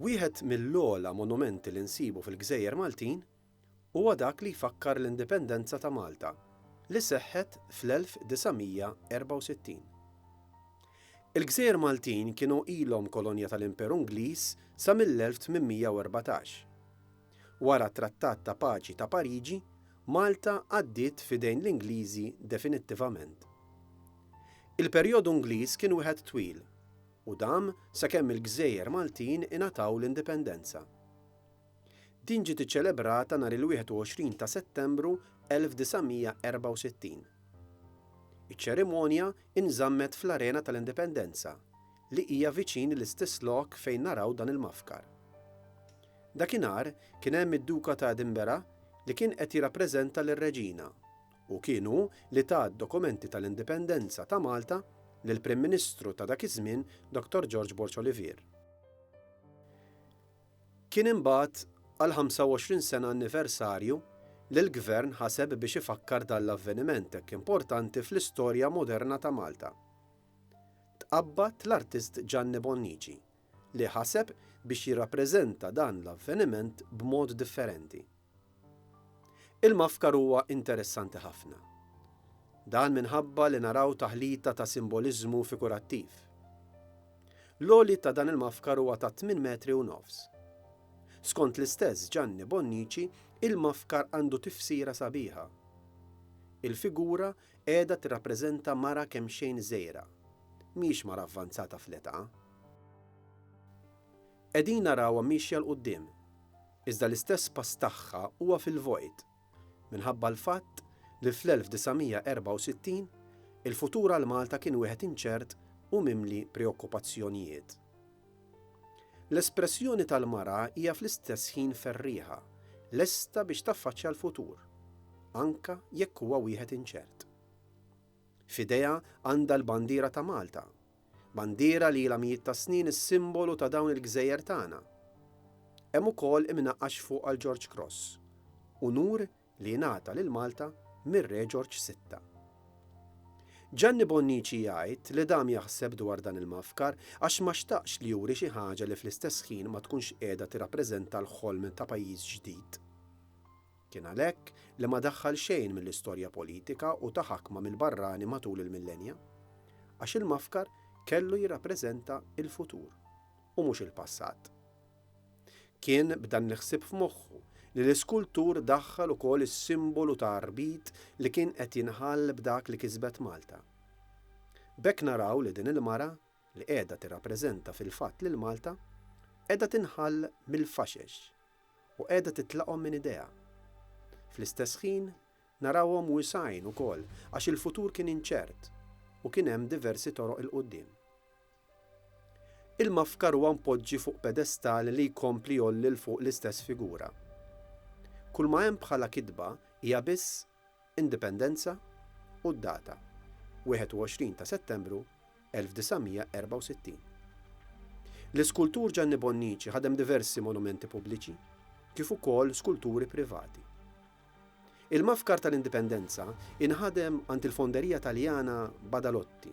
Wieħed mill-ogħla monumenti li nsibu fil-gżejjer Maltin huwa dak li jfakkar l-Indipendenza ta' Malta li seħħet fl-1964. Il-gżejjer Maltin kienu ilhom kolonja tal-Imperu Ingliż sa mill-1814. Wara t-Trattat ta' Paċi ta' Pariġi, Malta għaddiet f'idejn l-Ingliżi definittivament. Il-perjodu Ingliż kien wieħed twil u dam sakemm il-gżejjer Maltin ingħataw l-indipendenza. Din ġiet iċċelebrata nhar il-21 ta' Settembru 1964. Iċ-ċerimonja inżammet fl-Arena tal-Indipendenza, li hija viċin l-istess lok fejn naraw dan il-mafkar. Dakinhar kien hemm id-Duka ta' Edinburgh li kien qed jirrappreżenta lir-Reġina u kien hu li ta d-dokumenti tal-Indipendenza ta' Malta lill-Prim Ministru ta' dak iż-żmien Dottor George Borg Olivier. Kien imbagħad għall-25 sena anniversarju li l-Gvern ħaseb biex ifakkar dan l-avveniment hekk importanti fl-istorja moderna ta' Malta. tqabbad l-artist Gianni Bonnici li ħaseb biex jirrappreżenta dan l-avveniment b'mod differenti. Il-mafkar huwa interessanti ħafna. Dan minħabba li naraw taħlita ta' simboliżmu figurattiv. L-għoli ta' dan il-mafkar huwa ta' tmien metri u nofs. Skont l-istess Gianni Bonnici, il-mafkar għandu tifsira sabiħa. Il-figura Qiegħda tirrappreżenta mara kemxejn żgħira. Mhijiex mara avvanzata fl-età. Qegħdin narawha miexja 'l quddiem, iżda l-istess pass tagħha huwa fil-vojt, minħabba l-fatt li fl-1964 il-futur għal Malta kien wieħed inċert u mimli preokkupazzjonijiet. L-espressjoni tal-mara hija fl-istess ħin ferrieħa, lesta biex taffaċċja l-futur, anke jekk huwa wieħed inċert. F'idejha għandha l-bandiera ta' Malta, bandiera li ilha mijiet ta' snin is-simbolu ta' dawn il-gżejjer tagħna. Hemm ukoll imnaqqax fuqha l-George Cross, unur li jingħata lil Malta mir-Re Ġorġ Sitta. Ġanni Bonnici jgħid li dam jaħseb dwar dan il-mgħaffkar għax ma xtaqx li juri xi ħaġa li fl-istess ħin ma tkunx qiegħda tirrappreżenta l-ħolm ta' pajjiż ġdid. Kien għalhekk li ma daħħal xejn mill-istorja politika u ta' ħakma mill-barrani matul il-millenja. Għax il-mgħaffkar kellu jirrappreżenta l-futur u mhux il-passat. Kien b'dan l-ħsieb f'moħħu li l-iskultur daħħal ukoll is-simbolu ta' arbit li kien qed jinħall b'dak li kisbet Malta. B'hekk naraw li din il-mara, li qiegħda tirrappreżenta fil-fatt lil Malta, qiegħda tinħall mill-faxex u qiegħda titlaqhom minn idejha. Fl-istess ħin narawhom wisgħin ukoll għax il-futur kien inċert u kien hemm diversi toroq 'il quddiem. Il-mafkar huwa mpoġġi fuq pedestal li jkompli jgħolli 'l fuq l-istess figura. Kulma hemm bħala kitba hija biss Indipendenza u d-data, 21 ta' Settembru 1964. L-iskultur Ġanni Bonnici ħadem diversi monumenti pubbliċi kif ukoll skulturi privati. Il-mafkar tal-Indipendenza inħadem għand il-Fonderija Taljana Badalotti